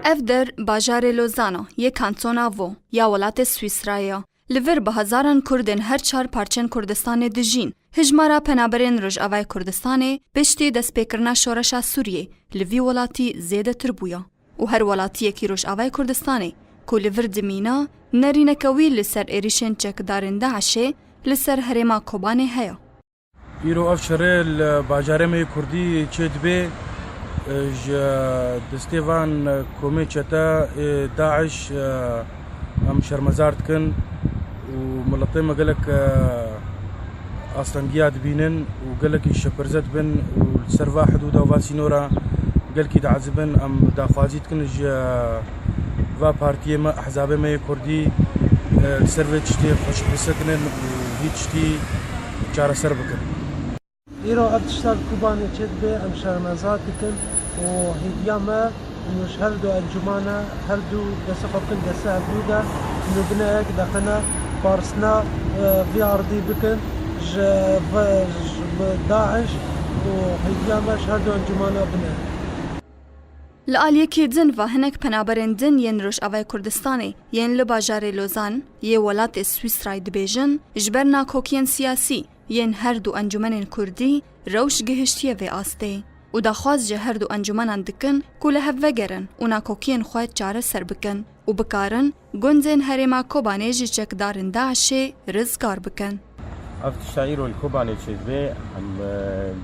Ev der bajarê Lozana yê kantona Vaud ya welatê Swîsrayê ye. Li vir bi hezaran Kurdên her çar parçên Kurdistanê dijîn. Hijmara penaberên Rojavayê Kurdistanê piştî destpêkirina şoreşa Sûriyê li vî welatî zêdetir bûye û her welatiyekî Rojavayê Kurdistanê ku li vir dimîne nerîneke wî li ser êrîşên çekdarên DAIŞ'ê li ser herêma Kobanê heye. Îro ev şerê li bajarê me yê Kurdî çê dibê ji destê van komê çete ê DAIŞ em şermezar dikin û miletê me gelek astengiya dibînin û gelekî şeperze dibin û li ser va hidûda û va sînora gelkî diezibin. Em daxwazî dikin ji va partiyê me, ehzabê me yê Kurdî li ser vê tiştê xweşik bisekinin û hîç tiştî çareser bikin. Îro ev tişta li Kobanê çêdibe em şermezar dikin û hêviya me ku ji her du encûmane her du destê xwe bikin destê hevdû de ku nû bine yek deqine parsna vê ardî bikin ji ji daîş û hêviya me ji her du encûmane bine. Li aliyekî din ve hinek penaberên din yên Rojavayê Kurdistanê yên li bajarê Lozan yê welatê Swîsrayê dibêjin, ji ber nakokiyên siyasî yên her du encûmenên kurdî rewş gihiştiye vê astê û daxwaz ji her du encûmenan dikin ku li hev vegerin û nakokiyên xwe çareser bikin û bikarin Gundên herêma Kobanê ji çekdarên DAIŞ'ê rizgar bikin. Ev tişta îro li Kobanê çêdibe. Em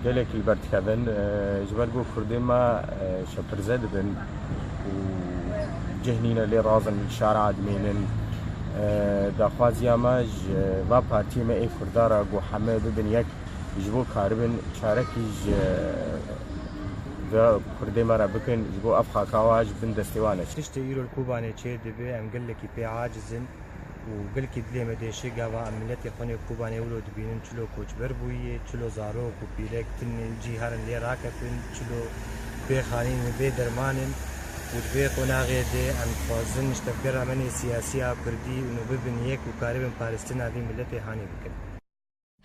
gelekî li ber dikevin. Ji ber ku Kurdên me şepirze dibin û cih nîne lê razin li şara dimînin. Daxwaziya me ji va partiyê me ê Kurdan re ku heme bibin yek ji bo karibin çarekî ji Kurdê me re bikin ji bo ev xaka wa ji bin destê wan e. Tiştê îro li Kobanê çêr dibe em gelekî pê aciz in û gelkî dilê me diêşe gava em miletê xwe nê Kobanê wilo dibînin çilo koçber bûyî, çilo zarok û pîrek tin cî herin lê raketin, çilo bê xanîn in, bê derman in û di vê qonaxê de em dixwazin niştevgera me nê siyasî a Kurdî û me bibin yek û karibin paristina vî miletê hanî bikin.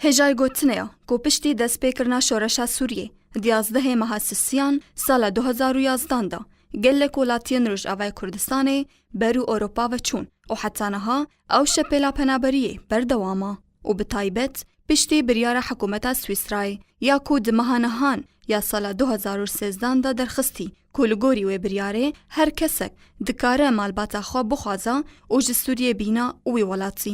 Hêjayê gotinê ya ku piştî destpêkirina şoreşa Sûriyê di yazdehê meha Sisiyan sala du hezar û yazdan de gelek welatiyên Rojavayê Kurdistanê ber û Ewropa ve çûn û heta niha ew şepêla penaberiyê berdewam e û bi taybet piştî biryara hikûmeta Swîsrayê ya ku di meha nihan ya sala du hezar û sêzdan de derxistî ku li gorî wê biryarê her kesek dikare malbata xwe bixwaza û ji Sûriyê bîna wî welatî.